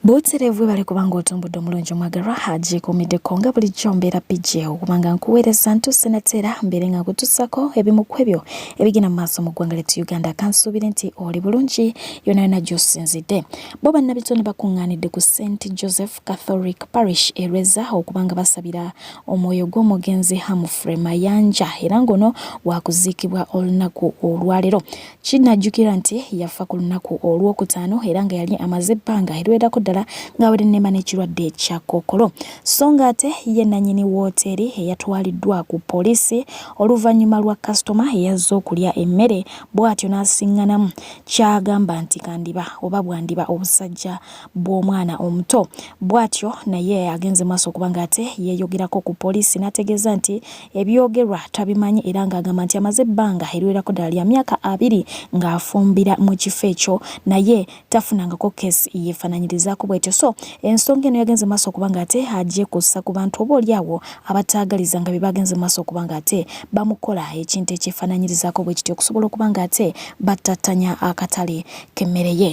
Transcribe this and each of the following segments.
buterevu bali kubanga otumbudde omulungi omwagalwa haji kumiddeko nga bulijjo mbeera pijje okubanga nkuweereza ntuuse nateera mbeere nga nkutuusako ebimu ku ebyo ebigenda mu maaso mu ggwanga lyettu uganda kansuubire nti oli bulungi yona yona gy'osinzidde bo bannabitone bakuŋŋaanidde ku st joseph catholic parish erweza okubanga basabira omwoyo gw'omugenzi hamfrey mayanja era ngono wakuziikibwa olunaku olwaleero Kinnajjukirwa nti yafa ku lunaku olwokutaano era nga yali amaze ebbanga eriwerako ddala ng'abadde nema n'ekirwadde ekya kookolo so ng'ate ye nannyini wooteeri eyatwaliddwa ku poliisi oluvannyuma lwa kasitoma eyazze okulya emmere bw'atyo n'asiŋŋanamu ky'agamba nti kandiba oba bwandiba obusajja bw'omwana omuto bw'atyo naye agenze maaso okuba ng'ate yeeyogerako ku poliisi n'ategeeza nti ebyogerwa tabimanyi era ng'agamba nti amaze ebbanga eriwerako ddala lya myaka abiri ng'afumbira mu kifo ekyo naye tafunangako keesi yeefaananyirizaako bwetyo so ensonga eno yagenze maaso okuba ng'ate agyekussa ku bantu oba oli awo abataagaliza nga bye bagenze maaso okuba ng'ate bamukola ekintu ekyefaananyirizaako bwe kityo okusobola okuba ng'ate battattanya akatale k'emmere ye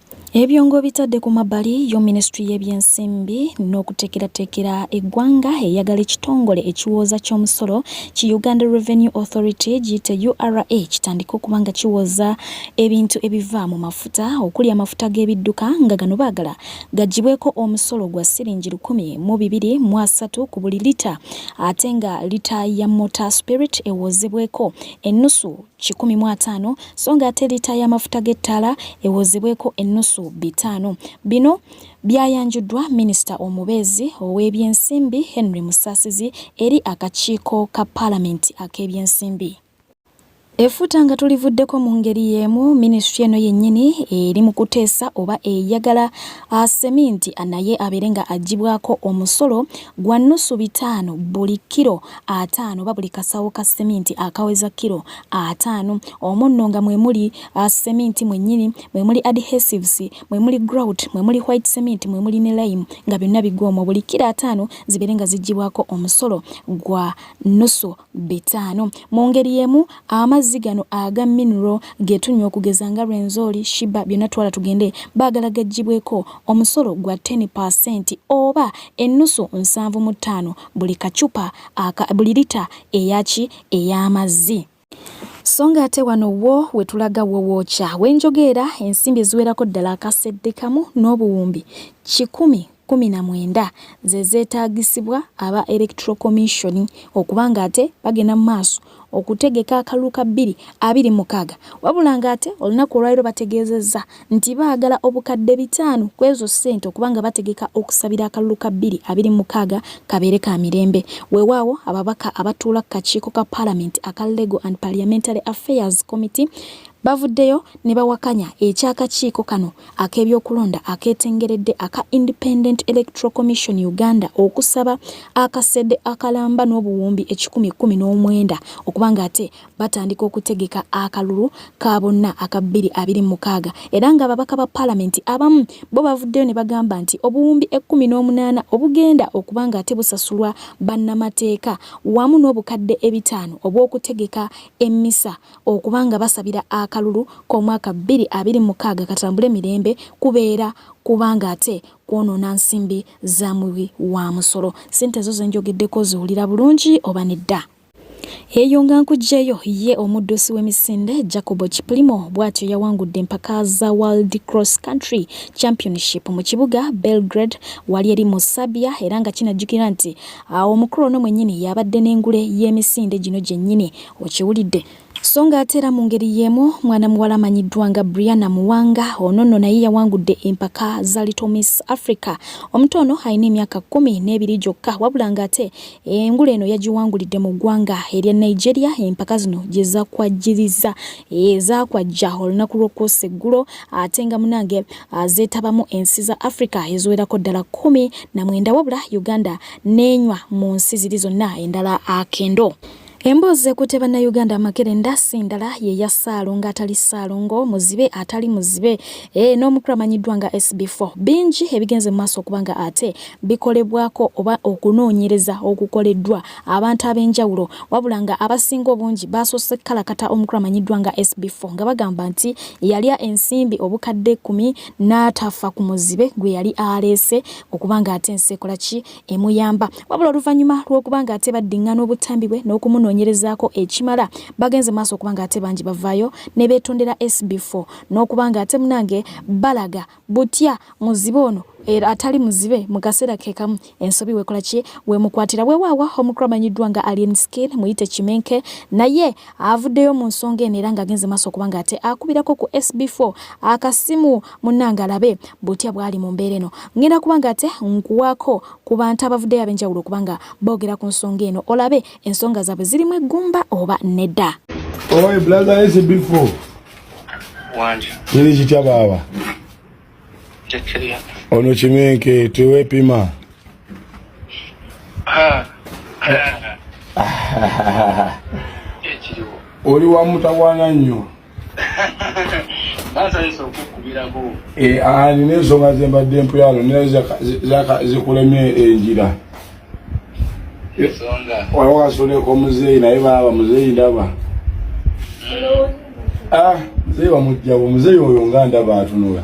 Ebyo ng'obitadde ku mabbali yo minisitule y'ebyensimbi n'okuteekerateekera eggwanga eyagala ekitongole ekiwooza ky'omusolo ki Uganda Revenue Authority giyite URA kitandike okuba nga kiwooza ebintu ebiva mu mafuta okuli amafuta g'ebidduka nga gano baagala gaggyibweko omusolo gwa siringi lukumi mu bibiri mu asatu ku buli lita ate nga lita ya mota spirit ewoozebweko ennusu kikumi mu ataano so nga ate liita y'amafuta g'ettaala ewozebweko ennusu bitaano. Bino byayanjuddwa minisita omubeezi ow'ebyensimbi Henry Musaasizi eri akakiiko ka paalamenti ak'ebyensimbi. Efuta nga tulivuddeko mu ngeri y'emu minisitule eno yennyini eri mu kuteesa oba eyagala seminti naye abeere nga agibwako omusolo gwa nnusu bitaano buli kkiro ataano oba buli kasawo ka seminti akaweza kilo ataano omunno nga mwe muli uh, seminti mwennyini mwe muli adhesives mwe muli grout mwe muli white cement mwe muli ne lime nga byonna bigwa omwo buli kilo ataano zibeere nga ziggyibwako omusolo gwa nusu bitaano mu ngeri y'emu amazzi gano aga mineral ge tunywa okugeza nga rwenzori shiba byonna twala tugende baagala gaggyibweko omusolo gwa 10 oba ennusu nsanvu mu ttaano buli kacupa aka buli lita eyaki ey'amazzi. So nga ate wano wo we tulaga wo wookya we njogeera ensimbi eziwerako ddala akasedde kamu n'obuwumbi kikumi kkumi na mwenda ze zeetaagisibwa aba Electoral Commission okuba ng'ate bagenda mu maaso okutegeka akalulu ka bbiri abiri mukaaga wabula ng'ate olunaku olwaliro bategeezezza nti baagala obukadde bitaano ku ezo ssente okuba nga bategeka okusabira akalulu ka bbiri abiri mukaaga kabeere ka mirembe weewaawo ababaka abatuula ku kakiiko ka palamenti aka legal and parliamentary affairs committee bavuddeyo ne bawakanya eky'akakiiko kano ak'ebyokulonda akeetengeredde aka Independent Electoral Commission Uganda okusaba akasede akalamba n'obuwumbi ekikumi kkumi n'omwenda okuba ng'ate batandika okutegeka akalulu ka bonna aka bbiri abiri mukaaga era ng'ababaka ba paalamenti abamu bo bavuddeyo ne bagamba nti obuwumbi ekkumi n'omunaana obugenda okuba ng'ate busasulwa bannamateeka wamu n'obukadde ebitaano obw'okutegeka emmisa okuba nga basabira akalulu k'omwaka bbiri abiri mukaaga katambule mirembe kubeera kubanga ate kwonoona nsimbi za muwi wa musolo. Ssente ezo ze njogeddeko ziwulira bulungi oba nedda? Eyo nga nkugyeyo ye omuddusi w'emisinde Jacobo Kiplimo bw'atyo yawangudde empaka za World Cross Country Championship mu kibuga Belgrade wali eri mu Serbia era nga kinajjukira nti omukulu ono mwennyini y'abadde n'engule y'emisinde gino gyennyini Okiwulidde? So nga ate era mu ngeri y'emu mwana muwala amanyiddwa nga Brianna Muwanga ono nno naye yawangudde empaka za Little Miss Africa. Omuto ono alina emyaka kkumi n'ebiri gyokka wabula ng'ate engule eno yagiwangulidde mu ggwanga erya Nigeria empaka zino gye zakwajjiriza ezakwajja eh, olunaku lw'okwosa eggulo ate nga munange ah, zeetabamu ensi za Africa eziwerako ddala kkumi na mwenda wabula Uganda n'enywa mu nsi ziri zonna endala akendo. Ah, Emboozi ekutte bannayuganda amakerenda sindala ye ya ssaalongo atali ssaalongo muzibe atali muzibe e, n'omukulu amanyiddwa nga SB4. Bingi ebigenze mu maaso okuba nga ate bikolebwako oba okunoonyereza okukoleddwa abantu ab'enjawulo wabula nga abasinga obungi baasoose kukalakata omukulu amanyiddwa nga SB4 nga bagamba nti yalya ensimbi obukadde ekkumi n'atafa ku muzibe gwe yali aleese okuba nga ate ensi ekola ki emuyamba wabula oluvannyuma lw'okuba nga ate baddingana obutambi bwe n'okumunoonyerezaako ekimala bagenze maaso okuba nga ate bangi bavaayo ne beetondera sb4 n'okuba nga ate munange balaga butya muzibe ono era atali muzibe mu kaseera ke kamu ensobi wekola ki wemukwatira wewaawa omukulu amanyiddwa nga alien skin muyite kimenke naye avuddeyo mu nsonga eno era ng'agenze maaso okuba nga ate akubirako ku sb4 akasimu munnange alabe butya bwali mu mbeera eno ngenda kuba nga ate nkuwaako ku bantu abavuddeyo ab'enjawulo okuba nga boogera ku nsonga eno olabe ensonga zaabwe zirimu eggumba oba nedda oy brother is before wanje yiri kitya baaba ono kimenke tewepima oli wamutawana nnyo Eh, ah, nina ensonga zembadde mpuyalo naye zikulemye enjira waliwo kasuleko muzeeyi naye baaba muzeeyi ndaba ah, muzeeyi wamugjawo muzeeyi oyo nga ndaba atunula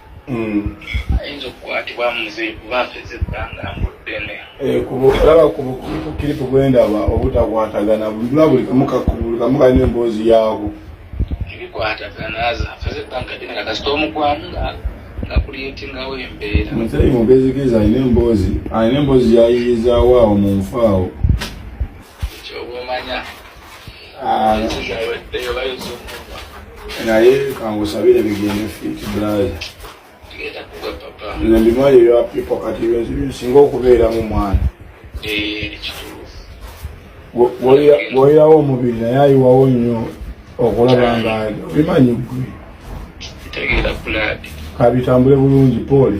Mm. ayinza okukwatibwa muze kuba mpeze ebbanga mbuddene eh, kulaba kukiripu bwendaba obutakwatagana bulula buli kamukakumukani emboozi yaabo ebikwatagana mpeze ebbanga ddene nga kasita omugwamu nga ngakuliyetingawo embeera muzeyi mubezigezi alina emboozi alina emboozi yayiyizaawo awo mu nfa awo kyoba omanya naye kangusabire bigende fiti bulayi nze mbimali ebya pipo kati bintu bisinga okubeeramu mwana gwolirawo omubiri naye ayiwawo nnyo okulaba nga bimanyi gwe kabitambule bulungi pole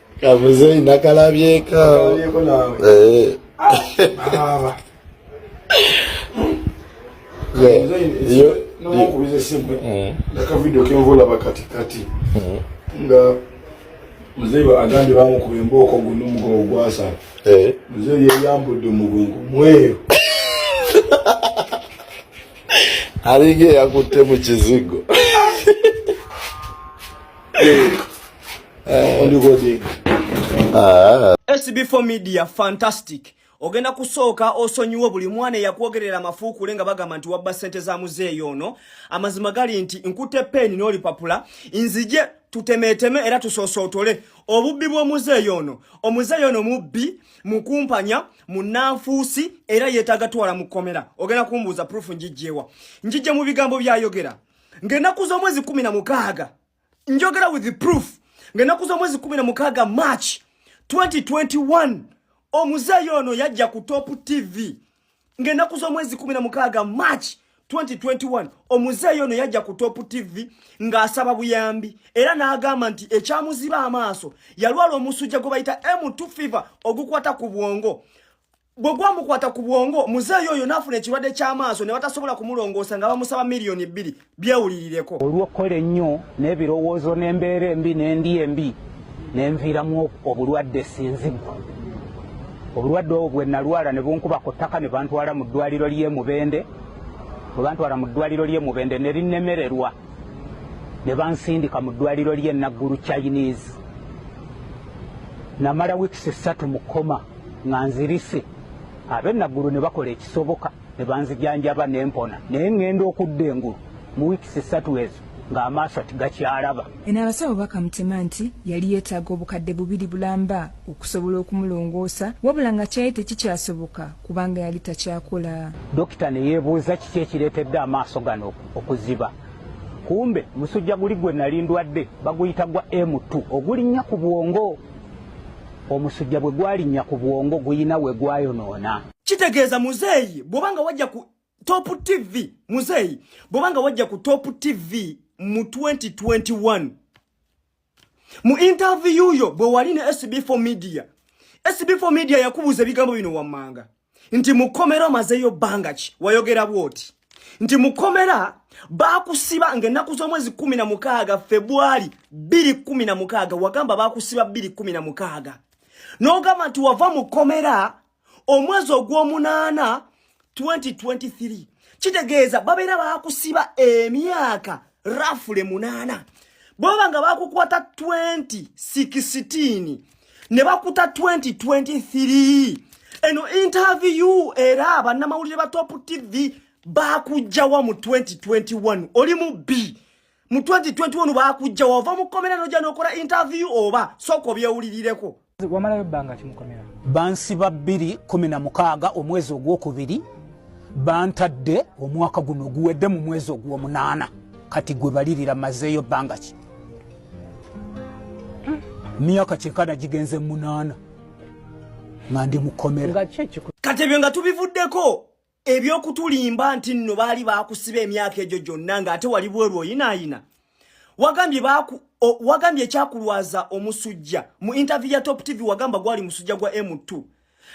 kabuze nakalabyeko eh. nakavidio kenvola bakatikati nga mzee agambye bamukuba embooko guno omugongo gwasala eh. mzee yeyambudde omugongo mweyo alinga eyakutte mu kizigo Ah. SB4 Media fantastic ogenda kusooka osonyiwe buli mwana eyakwogerera amafuukule nga bagamba nti wabba ssente za muzeeyi ono amazima gali nti nkute peeni n'olipapula nzije tutemeeteme era tusosootole obubbi bw'omuzeeyi ono omuzeeyi ono mubbi mukumpanya munanfuusi era yeetaaga twala mu kkomera ogenda kumbuuza purufu njijjeewa njijje mu bigambo byayogera ng'ennaku z'omwezi kumi na mukaaga njogera with the proof ng'ennaku z'omwezi kumi na mukaaga march 2021 omuzeeyi ono yajja ku top tv ng'ennaku z'omwezi kumi na mukaaga march 2021 omuzeeyi ono yajja ku top tv ng'asaba buyambi era n'agamba nti ekyamuziba amaaso yalwala omusujja gwe bayita m2 fever ogukwata ku bwongo bwe gwamukwata ku bwongo muzeeyi oyo n'afuna ekirwadde ky'amaaso ne batasobola kumulongoosa nga bamusaba miliyoni bbiri byewulirireko olw'okukola ennyo n'ebirowoozo n'embeera embi n'endi embi ne nviiramu obulwadde sinzigwa obulwadde obwo bwe nalwala ne bunkuba ku ttaka ne bantwala mu ddwaliro ly'e mubende bwe bantwala mu ddwaliro ly'e mubende ne linnemererwa ne bansindika mu ddwaliro ly'e naggulu chinese namala wiikisi ssatu mu koma nga nzirise abe naggulu ne bakola ekisoboka ne banzijanjaba ne mpona naye ŋŋenda okudda engulu mu wiikisi ssatu ezo ng'amaaso tigakyalaba. Eno abasawo bakamutema nti yali yeetaaga obukadde bubiri bulamba okusobola okumulongoosa wabula nga kyali tekikyasoboka kubanga yali takyakola. Dokita ne yeebuuza kiki ekireetedde amaaso gano okuziba. Kumbe musujja guli gwe nali ndwadde baguyita gwa M2 ogulinnya ku bwongo. omusujja bwe gwalinnya ku bwongo guyina we gwayonoona kitegeeza muzeeyi bwoba nga wajja ku top tv muzeeyi bwoba nga wajja ku top tv mu 2021 mu interview yo bwe wali ne sb4 media sb4 media yakubuuza ebigambo bino wammanga nti mukomera omazeyo banga ki wayogera bwoti nti mukomera bakusiba nga ennaku z'omwezi kumi na mukaaga febwali bbiri kumi na mukaaga wagamba bakusiba bbiri kumi na mukaaga n'ogamba nti wava mukomera omwezi ogw'omunaana 2023 kitegeeza babeera bakusiba emyaka eh, rafule munaana bwaba nga bakukwata 20 16 ne bakuta 2023 eno interview era bannamawulire ba top tv bakujjawa mu 2021 oli mu b mu 2021 bakujjawa ova mu komera noja nokola interview oba soko byewulirireko wamalayo bbanga ki mukomera bansiba bbiri kumi na mukaaga omwezi ogwokubiri bantadde omwaka guno guwedde mu mwezi ogwomunaana kati gwe balirira mazeeyo bbanga ki myaka kyekana gigenze munaana nga ndi mukomera kati ebyo nga tubivuddeko ebyokutulimba nti nno baali baakusiba emyaka egyo gyonna nga ate wali bweru oyinaayina wagambye baku wagambye ekyakulwaza omusujja mu interview ya top tv wagamba gwali musujja gwa m2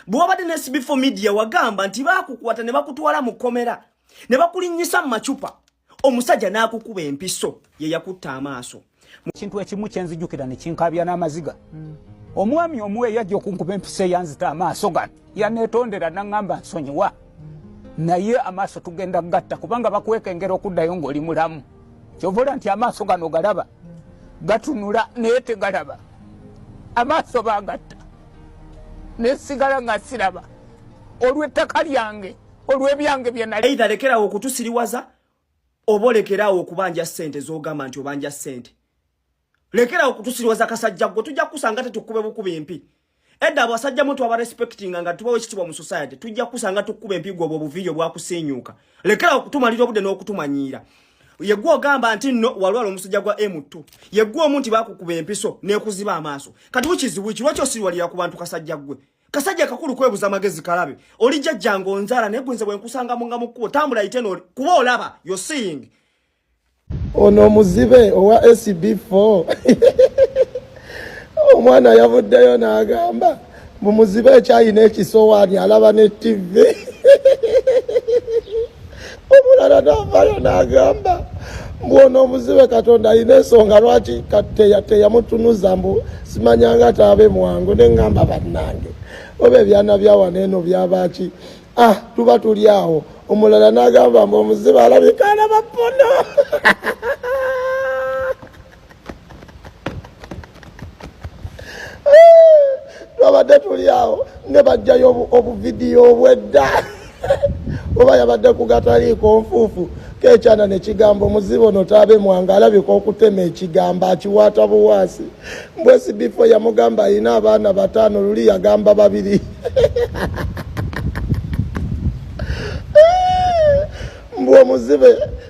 bwewabadde ne sb4 media wagamba nti baakukwata ne bakutwala mu kkomera ne bakulinnyisa mu macupa omusajja n'akukuba empiso ye yakutte amaaso kintu ekimu kyenzijukira nekinkabya n'amaziga mm. omwami omu eyajja okunkuba empiso eyanzita amaaso gano yaneetondera naŋŋamba nsonyiwa mm. naye amaaso tugenda gatta kubanga bakwekengera okuddayo ng'oli mulamu kyovola nti amaaso gano galaba mm. gatunula naye tegalaba amaaso bagatta nesigala nga siraba olw'ettaka lyange olw'ebyange bye nali either lekerawo okutusiriwaza oba olekerawo okubanja ssente z'ogamba nti obanja ssente lekerawo okutusiriwaza kasajja gwe tujja kukusanga tetukube bukuba empi edda abasajja mutu aba respectinga nga tubawo ekitibwa mu society tujja kukusanga tukube empi gwe obwo obuviiyo bwakusiinyuuka lekerawo okutumalira obudde n'okutumanyiira yegwe ogamba nti no walwala omusajja gwa M2 yegwe omu nti bakukuba empiso nekuziba amaaso kati wikizibu ki lwaki osiriwalira ku bantu kasajja gwe kasajja kakulu kwebuza amagezi kalabe oli jajja ngonzala naye gwenze bwenkusanga munga mukkubo tambula ite noli kuba olaba yo seeing ono omuzibe owa sb4 omwana yavuddeyo n'agamba mu muzibe ekyayina ekisowaani alaba ne ttivi omulala navayo nagamba mbu ono omuzibe katonda alina ensonga lwaki teyamutunuza mbu simanyanga taabe mwangu nengamba bannange oba ebyana byawana eno byabaki ah tuba tuli awo omulala nagamba mbu omuzibe alabika alaba pono twabadde tuli awo ne bajjayo obuvidiyo obwedda oba yabadde kugataliiko nfuufu kekyana nekigambo muzibo no tabe mwanga alabika okutema ekigambo akiwaata buwaasi mbwesi bifo yamugamba alina abaana bataano luli yagamba babiri mbwomuzibe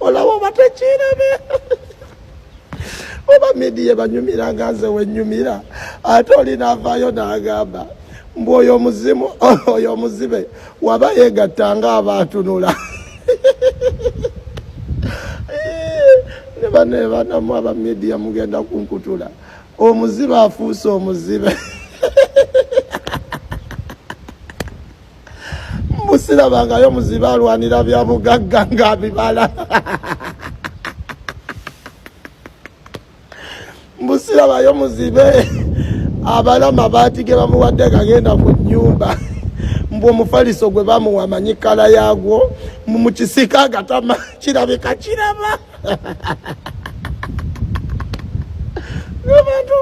olaba oba tekirabe oba midiya ebanyumira nga nze wenyumira ate olinavaayo nagamba mbu oyo omuzimu oyo omuzibe waba yegatta nga abaatunula nebaneebanamu aba midiya mugenda kunkutula omuzibe afuuse omuzibe musirabangayo muzibe alwanira bya bugagga nga bibala musirabayo muzibe abala mabaati ge bamuwadde gagenda ku nyumba mbu omufaliso gwe bamuwa amanyi kala yagwo mukisika agatama kirabika kiraba ebantu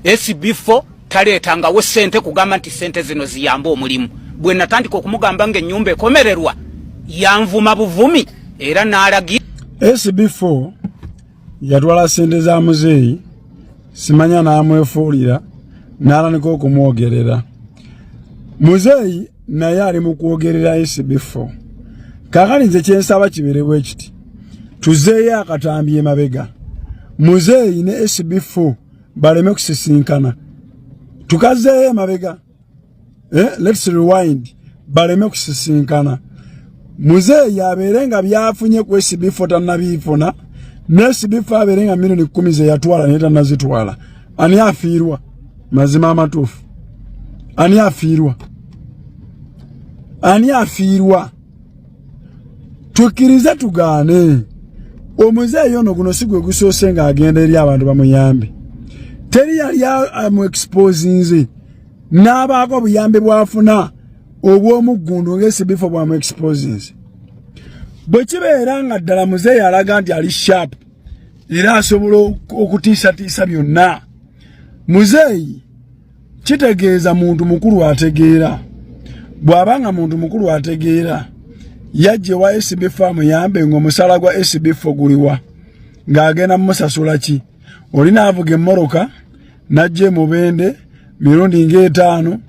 fb4 taleetangawo ssente kugamba nti ssente zino ziyambe omulimu bwe natandika okumugamba ng'ennyumba ekomererwa yanvuma buvumi era n'alagira sb4 yatwala ssente za muzeeyi simanya n'amwefuulira n'alanika okumwogerera muzeeyi naye ali mu kwogerera sb4 kakali nze kyensaba kiberebwa ekiti tuzeeyo akatambi emabega muzeeyi ne sb4 baleme kusisinkana tukazeeyo emabega eh, let's rewind baleme kusisinkana muzeeyi abeere nga byafunye ku esibifu tanabiifuna nesibifu abeere nga milioni kumi zeyatwala naye tanazitwala ani afiirwa mazima amatuufu ani afiirwa ani afiirwa tukkirize tugaane omuzeeyi ono guno si gwe gusoose ng'agenda eri abantu bamuyambe teri yali amu exposinze n'abaako obuyambi bw'afuna obw'omuggundu ng'esibifo bwamu exposinze bwe kibeera nga ddala muzeeyi alaga nti ali sharp era asobola okutiisatiisa byonna muzeeyi kitegeeza muntu mukulu ategeera bw'aba nga muntu mukulu ategeera yajje wa SB farm yambe ng'omusala gwa SB fo guliwa ng'agenda musasula ki oli naavuga emmoroka najja emubende mirundi ng'etaano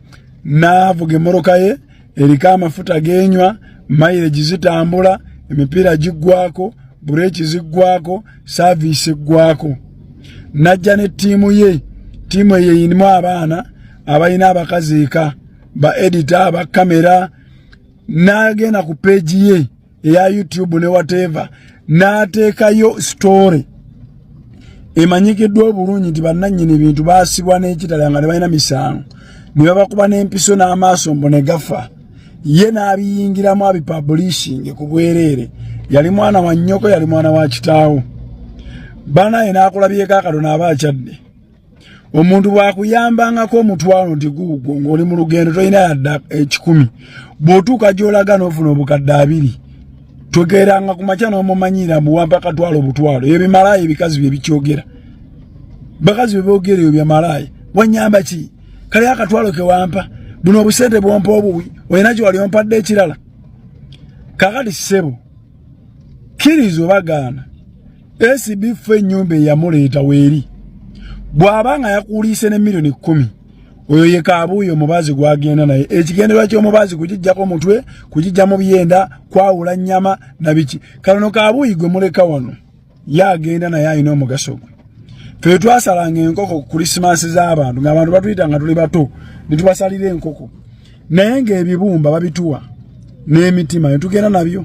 naavuga emmoroka ye eriko amafuta genywa mayireji zitambula emipiira giggwako bureeki ziggwako saaviisi eggwako najja ne ttiimu ye ttiimu eyo eyinimu abaana abalina abakazi eka ba edita ba kamera n'agenda ku peegi ye eya youtube ne whatever n'ateekayo story emanyikiddwa obulungi nti bannannyini bintu baasibwa n'ekitala nga tebalina misango ne babakuba n'empiso n'amaaso mbu ne gafa ye n'abiyingiramu abipabulishinge ku bwereere yali mwana wa nnyoko yali mwana wa kitaawo banaye n'akulabyeko akatono aba akyadde omuntu bwakuyambangako omutwalo nti guugwo ng'oli mu lugendo tolina yadda ekikumi bw'otuuka gy'olaga n'ofuna obukadde abiri twegeranga ku makya n'omumanyiira mbu wampa akatwalo obutwalo ebyo bimalaaya ebikazi bye bikyogera bakazi bye boogera ebyo byamalaaya wanyamba ki kale akatwalo ke wampa buno obusente bwompa obuwi olina gye wali ompadde ekirala kakati ssebo kkiriza obagaana ACB ffe nyumba eyamuleeta weeri bw'aba nga yakuuliise ne millioni kkumi oyo ye kaabuuyi omubaazi gwagenda naye ekigendererwa ky'omubaazi kugijjako omutwe kugijja mu byenda kwawula nnyama na biki kanono kaabuuyi gwe muleka wano ye agenda naye alina omugaso gwe ffe twasalanga enkoko ku kulisimansi z'abantu ng'abantu batuyita nga tuli bato ne tubasalira enkoko naye ng'ebibumba babituwa n'emitima netugenda nabyo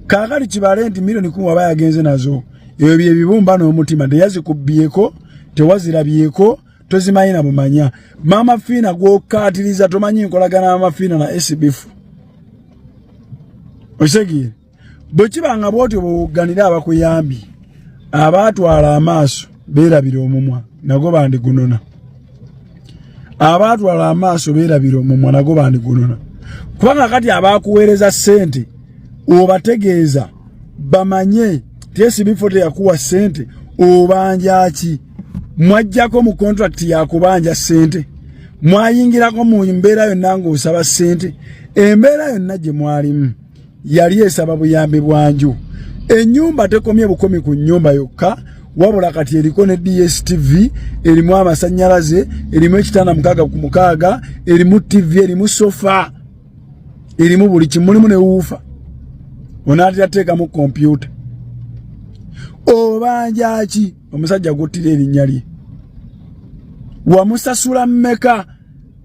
kaakati kibale nti milioni kumi waba yagenze nazo ebyo byebibumba n'omutima teyazikubbyeko tewazirabyeko tozimanyi na bumanya maama fiina gwokkaatiriza tomanyi nkolagana maama fiina na esibifu okitegere bwe kiba nga bw'otyo bwewogganira abakuyambi abaatwala amaaso beerabira omumwa nago bandigunona abaatwala amaaso beerabira omumwa nago bandigunona kubanga kati abaakuweereza ssente obategeeza bamanye tyesibifo teyakuwa ssente obanja ki mwajjako mu kontrakiti yakubanja ssente mwayingirako mu mbeera yonna ng'osaba ssente embeera yonna gye mwalimu yali esaba buyambi bwanju enyumba tekomye bukomi ku nyumba yokka wabula kati eriko ne dstv erimu amasanyalaze erimu ekitanda mukaaga ku mukaaga erimu tv erimu sofa erimu buli kimulimu newuufa onaatera teekamu kompyuta obanja ki omusajja guttira erinnya lye wamusasula mmeka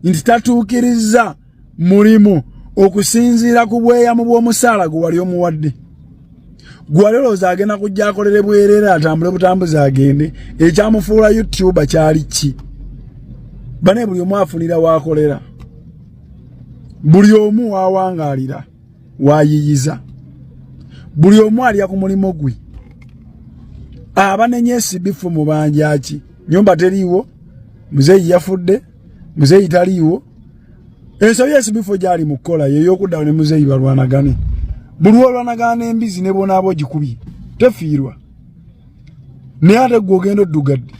nti tatuukirizza mulimu okusinziira ku bweyamu bw'omusaala gwe wali omuwadde gwali olowooza agenda kujja akolere bwerere atambule butambuzi agende ekyamufuula youtuba kyali ki bane buli omu afunira waakolera buli omu waawangaalira waayiyiza buli omu alya ku mulimu gwe abanenya esibifu mu banjaki nyumba teriiwo muzeeyi yafudde muzeeyi taliiwo ensobi esibifo gyali mu kukola yeyokuddawo ne muzeeyi balwanagane buli olwanagana embizi ne bonaaba ogikubye tefiirwa naye ate gwe ogenda oddugadde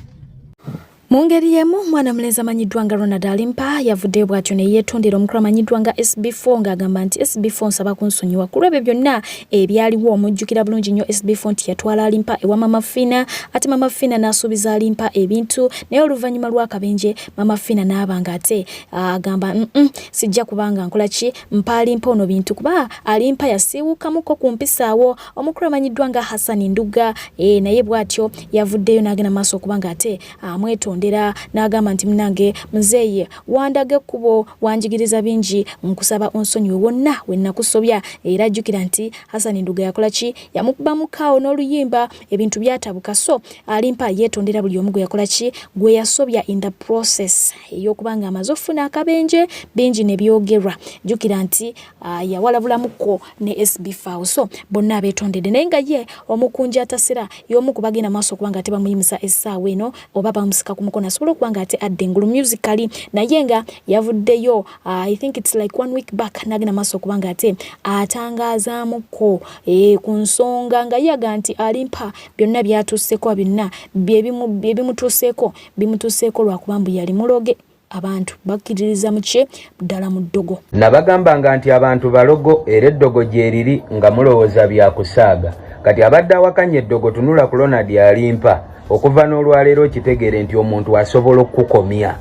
mu ngeri y'emu mwana mulenzi amanyiddwa nga ronald alimpa yavuddeyo bw'atyo ne yeetondera omukulu amanyiddwa nga sb4 ng'agamba nti sb4 nsaba kunsonyiwa ku lw'ebyo byonna ebyaliwo omujjukira bulungi nnyo SB4 nti yatwala alimpa ewa Mama Fina ate Mama Fina n'asuubiza alimpa ebintu naye oluvannyuma lw'akabenje Mama Fina n'aba nga ate agamba mm -mm, sijja kubanga nkola ki mpa alimpa ono bintu kuba alimpa yasiiwukamuko ku mpisaawo omukulu amanyiddwa nga Hassan Ndugga e, naye bw'atyo yavuddeyo n'agenda maaso okuba nga ate amwetondera n'agamba nti munange muzeeyi wandaga ekkubo wanjigiriza bingi nkusaba onsonyiwe wonna we nakusobya era jjukira nti hasani nduga yakola ki yamukuba mukaawo n'oluyimba ebintu byatabuka so alimpa yeetondera buli omu gwe yakola ki gwe yasobya in the process ey'okuba nga amaze okufuna akabenje bingi ne byogerwa jjukira nti Ah, yawalabulamuko ne SB Fao so bonna abeetondedde naye nga ye omukunja atasira y'omu ku bagenda maaso okuba nga ate bamuyimusa essaawa eno oba bamusika ku mukono asobola okuba nga ate adda engulu musically naye nga yavuddeyo ah, i think its like one week back n'agenda maaso okuba nga ate atangazaamuko eh, ku nsonga nga yaga nti alimpa byonna byatuuseeko byonna byebimutuuseeko bimutuuseeko lwakuba mbu yali muloge abantu bakkiririza mu kye ddala mu ddogo nabagambanga nti abantu balogo era eddogo gyeriri nga mulowooza bya kusaaga kati abadde awakanya eddogo tunula ku lonad alimpa okuva n'olwaleero okitegeere nti omuntu asobola okukukomya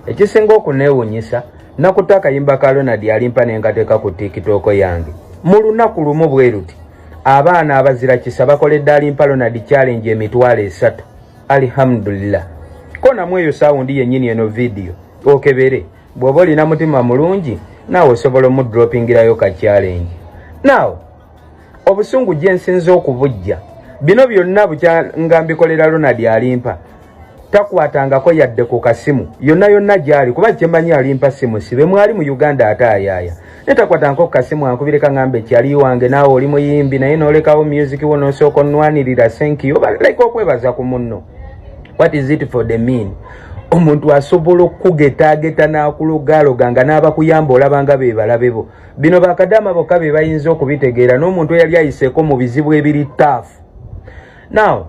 ekisinga okuneewunyisa nakuta akayimba ka lonad alimpa ne nkateeka ku tikitooko yange mu lunaku lumu bweruti abaana abazira kisa bakoledde alimpa lonad challenge emitwalo esatu alihamdulillah ko namwe eyo sawundi yennyini eno vidiyo okebere bw'oba olina mutima mulungi naawe osobola omudropingirayo ka challenge naawe obusungu gye nsinza okubujja bino byonna bukya nga mbikolera ronald alimpa takwatangako yadde ku kasimu yonna yonna gy'ali kuba kyemanyi alimpa simu sibe mwali mu uganda ate ayaaya netakwata nko kasimu ankubire kaŋambe kyali wange naawe oli muyimbi naye nolekawo music wo nosooka onwanirira senkiyo baleka okwebaza ku munno what is it for the mean omuntu asobola okukugetaageta n'akulogaloga nga n'abakuyamba olabanga be balabe bo bino bakadaama bokka be bayinza okubitegeera n'omuntu eyali ayiseeko mu bizibu ebiri taafu now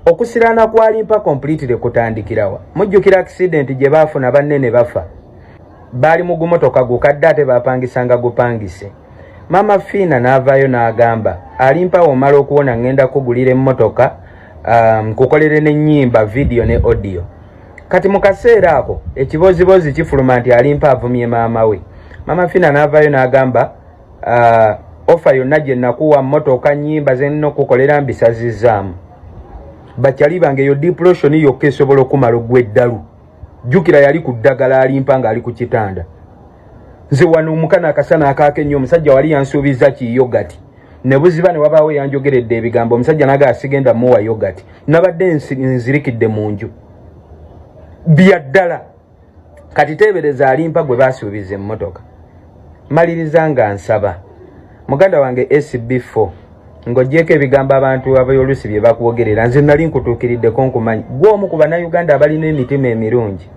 okusiraana kwalimpa completely kutandikirawa mujjukira accident gye baafuna banne ne bafa baali mu gumotoka gukadde ate bapangisanga gupangise maama fiina n'avaayo n'agamba alimpawo omala okuwona ŋŋenda kugulira emmotoka um, kukolere n'ennyimba vidiyo ne odiyo kati mu kaseera ako ekiboziboozi kifuluma nti alimpa avumye maama we maama fiina n'avaayo n'agamba uh, ofa yonna gye nakuwa mmotoka nnyimba ze nnina okukolera mbisazizzaamu bakyali bange eyo diploshoni yokka esobola okumala ogw'eddalu jukira yali ku ddagala alimpa nga ali ku kitanda nze wano omukana akasana akaake nnyo omusajja wali yansuubiza ki yogati ne buziba ne wabaawo yanjogeredde ebigambo omusajja naga asigenda muwa yogati nabadde nzirikidde mu nju bya ddala kati teebereza alimpa gwe baasuubiza emmotoka maliriza nga nsaba muganda wange SB4 ng'ogyeko ebigambo abantu abayolusi bye bakwogerera nze nali nkutuukiriddeko nkumanyi gwe omu ku bannayuganda abalina emitima emirungi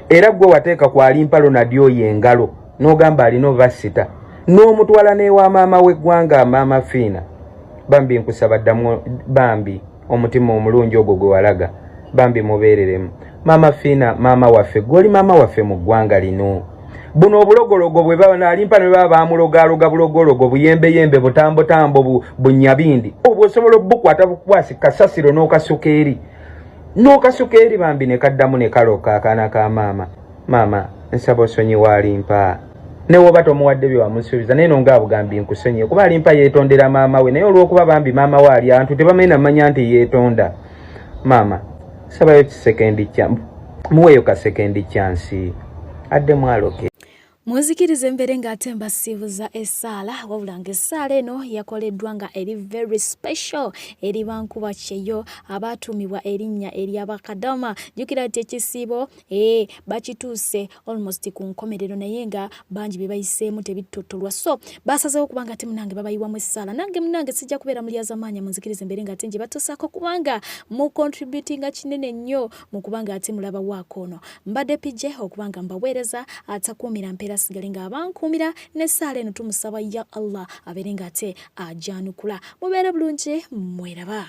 era gwe wateeka ku alimpalo nadyo oyo engalo n'ogamba alina obasita n'omutwala n'ewa maama w'eggwanga maama fiina bambi nkusaba ddamu bambi omutima omulungi ogwo gwe walaga bambi mubeereremu maama fiina maama waffe gwoli maama waffe mu ggwanga lino buno obulogologo bwebalimpa nebaba bamulogaloga bulogologo buyembeyembe butambotambo bunyabindi obwo osobola obukwata bukwasi kasasiro n'okasuka eri n'okasuka eri bambi nekaddamu nekaloka akaana ka maama maama nsaba osonyiwa alimpa naye woba tomuwadde bye wamusuubiza naye nonga abugambi nkusonyiye kuba alimpa yeetondera maama we naye olwokuba bambi maama we ali antu tebamanyi namanya nti yeetonda maama sabayo kisekendi kya muweeyo kasekendi kyansi adde mwaloke munzikiriza embeere ng'ate mbasiibuza essaala wabula nga essaala eno yakoleddwa nga eri very special eri bankuba kyeyo abaatuumibwa erinnya ery'abakadama jjukira nti ekisiibo ee bakituuse almost ku nkomerero naye nga bangi bye bayiseemu tebittottolwa so baasazeewo kubanga ate munange babayiwamu essaala nange munange sijja kubeera mulyazamaanya munzikiriza embeere nga ate nje batuusaako kubanga mu contributinga kinene nnyo mu kubanga ate mulaba waako ono mbadde pije okubanga mbaweereza atakuumira mpeera sigale nga abankuumira n'essaala eno tumusaba ya allah abeere nga ate ajanukula mubeere bulungi mweraba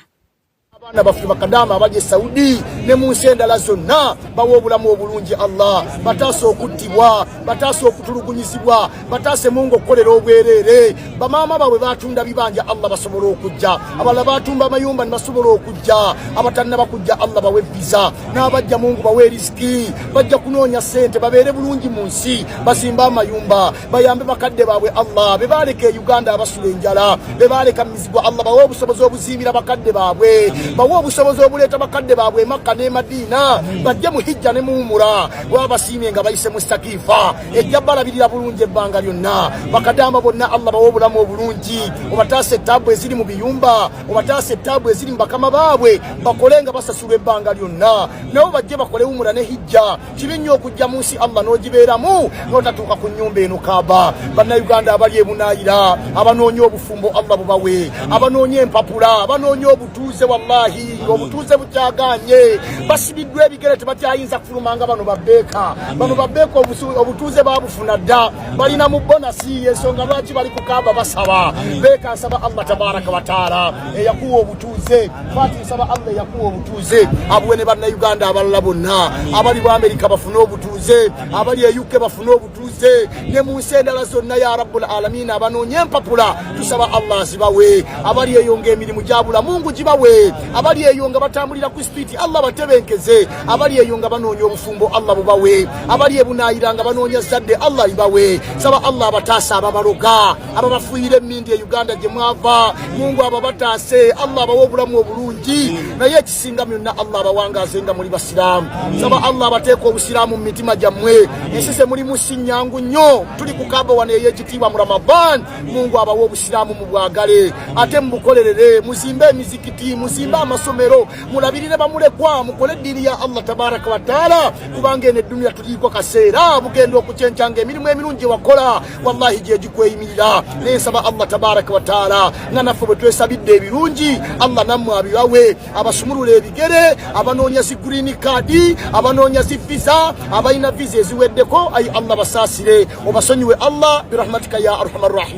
abaana baffe bakadaama abali e saudi ne mu nsi endala zonna bawa obulamu obulungi allah bataasa okuttibwa bataasa okutulugunyizibwa bataase mungu okukolera obwereere bamaama baabwe batunda bibanja allah basobole okujja abalala batumba amayumba nebasobola okujja abatannaba kujja allah bawe viza n'abajja mungu bawe erisiki bajja kunoonya ssente babeere bulungi mu nsi bazimbe amayumba bayambe bakadde baabwe allah be baaleka e uganda abasula enjala be baaleka mizigo allah bawe obusobozi obuzimbira bakadde baabwe bawe obusobozi obuleeta bakadde baabwe emakka ne madiina bajje mu hijja ne muwumura wabasiimye nga bayise mu sakiifa ejja balabirira bulungi ebbanga lyonna bakadama bonna allah bawe obulamu obulungi obataasa ettaabu eziri mu biyumba obataasa ettaabu eziri mu bakama baabwe bakole nga basasulwa ebbanga lyonna nabo bajje bakole wumura ne hijja kibi nnyo okujja mu nsi allah n'ogibeeramu n'otatuuka ku nnyumba eno kaaba bannayuganda abali ebunaayira abanoonya obufumbo allah bubawe abanoonya empapula abanoonya obutuuze wallahi obutuuze bukyagaanye basibiddwa ebigere tebakyayinza kufuluma nga bano babbeeka bano babbeeka obutuuze babufuna dda balina mu bonasi yensonga lwaki bali ku kaaba basaba beeka nsaba allah tabaraka wataala eyakuwa obutu butuuze fati nsaba allah yakuwa obutuuze abuwe ne bannayuganda abalala bonna abali mu amerika bafune obutuuze abali e uk bafune obutuuze ne mu nsi endala zonna ya rabbul alamina abanoonya empapula tusaba allah azibawe abali eyo nga emirimu gyabula mungu gibawe abali eyo nga batambulira ku sipiiti allah batebenkeze abali eyo nga banoonya obufumbo allah bubawe abali ebunayira nga banoonya zadde allah ibawe saba allah abataasa ababaloga abo bafuuyira emindi e uganda gye mwava mungu abo bataase allah abawa obulamu obulungi naye ekisinga myonna allah abawangaaze nga muli basiraamu saba allah abateeka obusiraamu mu mitima gyammwe ensi ze mulimu si nnyangu nnyo tuli ku kaba wano ey'ekitiibwa mu ramadan mungu abawa obusiraamu mu bwagale ate mubukolerere muzimbe emizikiti muzimbe amasomero mulabirire bamulekwa mukole eddiini ya allah tabaraka wataala kubanga eno eddunia tuliiko kaseera bugenda okukyencanga emirimu emirungi wakola wallahi gyegikweyimirira nensaba allah tabaraka wataala nga naffe bwe twesabidde ebirungi allah nammwe abibawe abasumulula ebigere abanoonya zi green kaadi abanoonya zi visa abalina visa eziweddeko ayi allah basaasire obasonyiwe allah birahmatika ya arhama rrahimin